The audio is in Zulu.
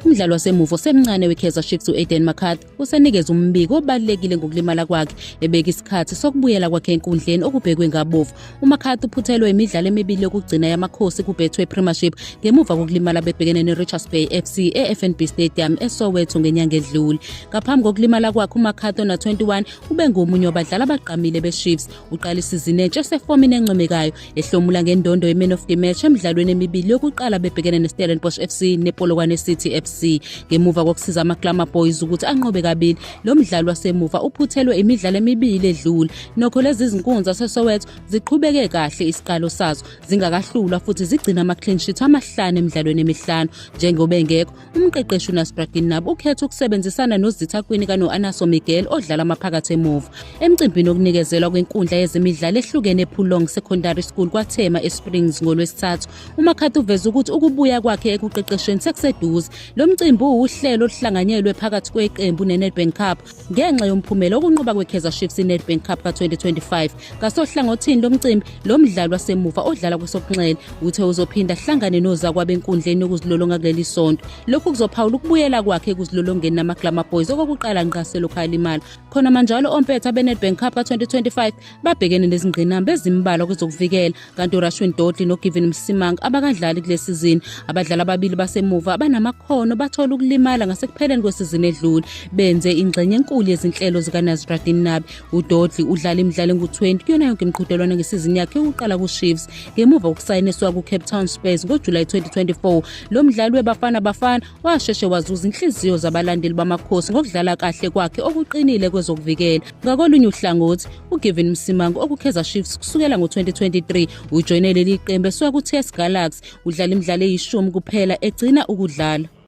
Umdlali wasemuva osemncane weKaizer Chiefs u-Aiden McCarthy usenikeza umbiko obalekile ngokulimala kwakhe ebeka isikhathi sokubuyela kwakhe enkundleni okubhekwe ngabovu. UMcCarthy uphuthelwe imidlalo emibili yokugcina yamakhosi kuBetway Premiership ngemuva kokulimala bebhekene neRichards Bay FC eFNB Stadium eSoweto ngenyanga edlule. Ngaphambi kokulimala kwakhe uMcCarthy ona-21 ubengomunye wabadlali abagqamile beChiefs. Uqala isizini entsha esefomini encomekayo ehlomula ngendondo yeman of the match emidlalweni emibili yokuqala bebhekene nestellenbosch fc nepolokwane city fc ngemuva kokusiza amaclama boys ukuthi anqobe kabili lo mdlali wasemuva uphuthelwe imidlalo emibili edlule nokho lezi zinkunzi zasesowetho ziqhubeke kahle isiqalo sazo zingakahlulwa futhi zigcina ama-clean sheet amahlanu emidlalweni emihlanu njengoba engekho Umqeqeshi uNasbra Ginnab ukhetha ukusebenzisana nozithakwini kanoAnaso Miguel odlala maphakathi emuva. Emcimbini okunikezelwa kwenkundla yezemidlalo ehlukene ePulong Secondary School kwaThema eSprings ngolwesithathu, uMakhathi uveze ukuthi ukubuya kwakhe ekuqeqeshweni sekuseduze. Lo mcimbi uwuhlelo oluhlanganyelwe phakathi kweqembu neNedbank Cup ngenxa yomphumela okunqoba kwe-kaizer chiefs inedbank cup ka-2025 ngasohlangothini lomcimbi lo mdlali wasemuva odlala kwesokunxele uthe uzophinda ahlangane nozakwabo enkundleni yokuzilolonga kuleli sonto lokhu kuzophawula ukubuyela kwakhe ekuzilolongeni namaglama boys okokuqala ngqa selokhu alimala khona manjalo ompetha benedbank cup ka-2025 babhekene nezingqinamba ezimbalwa kwezokuvikela kanti urashwin dodley nogivin msimanga abakadlali kule sizini abadlali ababili basemuva abanamakhono bathola ukulimala ngasekupheleni kwesizini edlule benze ingxenye enkulu yezinhlelo zikanazradin nabi udodley udlala imidlalo engu-20 kuyona yonke imiqhudelwano ngesizini yakhe yokuqala kushiefs ngemuva kokusayiniswa kucape town spurs ngojulayi 2024 lo mdlali webafana bafana washeshe wazuza inhliziyo zabalandeli bamakhosi ngokudlala kahle kwakhe okuqinile kwezokuvikela ngakolunye uhlangothi ugivin msimango okukheza shifts kusukela ngo-2023 ujoyine leli qembu esuka ku-ts galaxy udlala imidlalo eyishumi kuphela egcina ukudlala